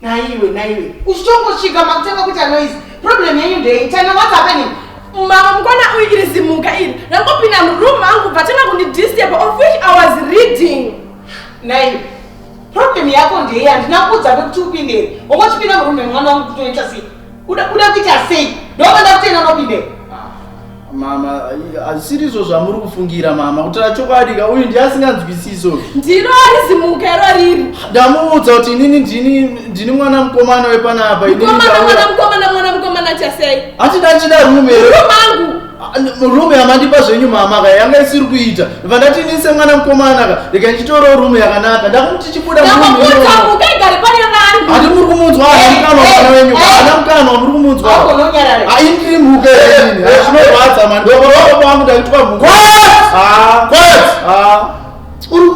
naiwe naiwe uchitongosvika makutanga kuti anoise problem yenyu ndei tana what's happening mama mukona uyu iri zimuka iri rangopinda muroom angu vatanga kundidisturb of which i was reading naiwe problem yako ndei handina kuudza vekuti upindei wongochipinda muroom yemwana wangu kutoita sei Kuda kuda kuita sei? Ndokuda kutoenda nopinde. Ah, mama, hazvisiri izvo zvamuri kufungira mama, kutaura chokwadi ka uyu ndiye asinganzwisiso. Ndino arizimuka iro riri. Ndamuudza kuti inini ndini ndini mwana mukomana wepanapa. Mukomana mwana mukomana mwana mukomana chasei? Ati ndachida rume. Rumangu. rume yamandipa zvenyu mama ka yanga isiri kuita vandati ini semwana mukomana ka rega ndichitorawo rume yakanaka ndakuti chibuda hati muri kumunzwa anamukanwana wenyu anamukanwa muri kumunzwa aindiri mhuke ini zvinorwadza mandokoroa kwangu ndakitwa mhuke uri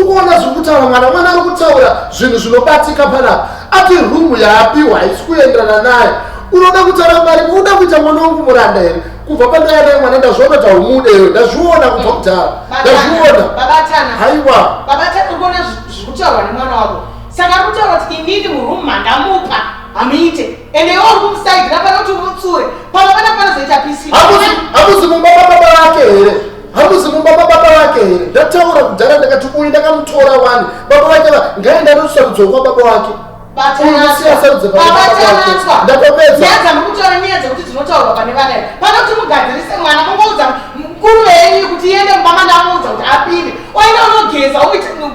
kuona zviri kutaura mwana mwana ari kutaura zvinhu zvinobatika panapa ati rumu yaapiwa haisi kuenderana naye unoda kutaura mari uda kuita mwana wangu muranda here kubva pandaya naye mwana ndazviona kuti haumudewe ndazviona kubva kudhara ndazviona haiwa saka kutaura kuti inini murumu mandamupa hamuite ende iwe uri kumusaidzira pano kuti umutsure pano pana panozoita pisi hamuzi mumba mababa vake here hamuzi mumba mababa vake here ndataura kudhara ndakati uyu ndakamutora wani baba vake va ngaenda anosarudzwa kwa baba wake ndatopezaamukutaura nyaya dzekuti dzinotaurwa pane vana panoti mugadzirise mwana mungoudza mukuru venyu kuti iende mumba mandamuudza kuti apinde oenda unogeza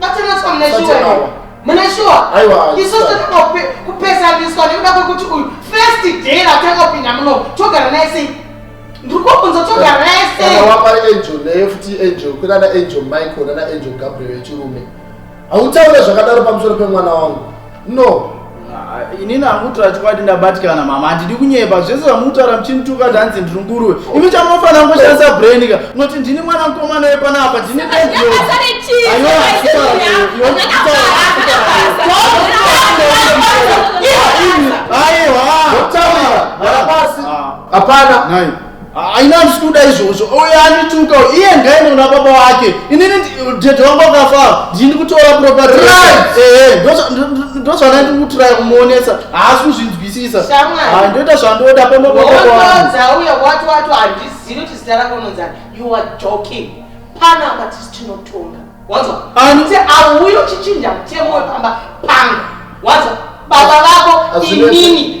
Matinotswa mune shuwa. Mune shuwa. Aiwa. Isu tinoda kupesaniswa nekuda kwekuti uyu first day ratanga kupinda muno togara naye sei? Ndiri kubvunza togara naye sei? Kana wapa angel naye futi angel kuna na angel Michael na angel Gabriel yechirume. Hautaure zvakadaro pamusoro pemwana wangu. no inini hamutaura chokwadi ndabatikana mama handidi kunyepa zvese zvamutaura muchinituka zvanzi ndiri nguruwe imi chamunofanira kungoshandisa brain ka unoti ndini mwana mukomana wepanapa ndini aiwa hapana haina handisi kuda izvozvo uyo andituka iye ngaende kuna baba wake inini dhedhe wangu akafa ndini kutora propaeendozvandandiri kutiraya kumuonesa haasi kuzvinzwisisa ndoita zvandoda pamaaauya wati wati handizivi kuti zita rako unonzani you are joking pana apa tisi tinotonga wanzwa kuti auyo chichinja mutemo wepamba pangu wanzwa baba vako inini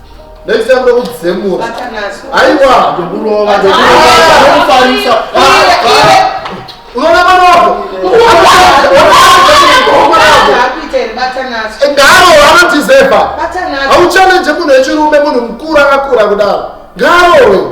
Next time don't say more. Aiwa, ndokurova, ndokufarisa. Unaona mwana wako? Ngaro anotizeva. Hauchallenge munhu wechirume munhu mukuru akakura kudaro. Ngaro wewe.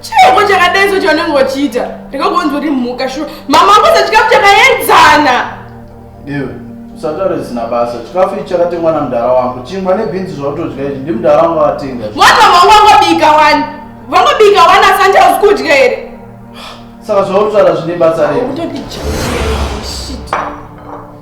chiiko chakadai so chaunenge wachiita ndikagonzi uri mhuka shuwa mama wako sachikafu chakaenzana iwe usataure zvisina basa chikafu ichi chakatengwa namudhara wangu chingwa nebhinzi zvautodya izvi ndi mudhara wangu atenga mwana wangu wangobika wani vangobika wani asi andi hausi kudya here saka zvautaura zvine basa rei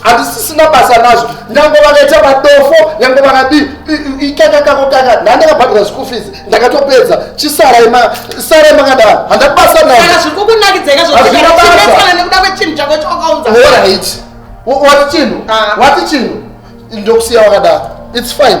hatisisina basa nazvo nyange vakaita madofo nyange vakadii ikaka kako kaka ndandakabhadhira school fees ndakatopedza chisarai sarai makadaro handati basa nazvo zviri kukunakidzeka zvoaana nekuda kwechinhu chako chawakaunza orit wati chinhu ah. wati chinhu ndokusiya wakadaro its fine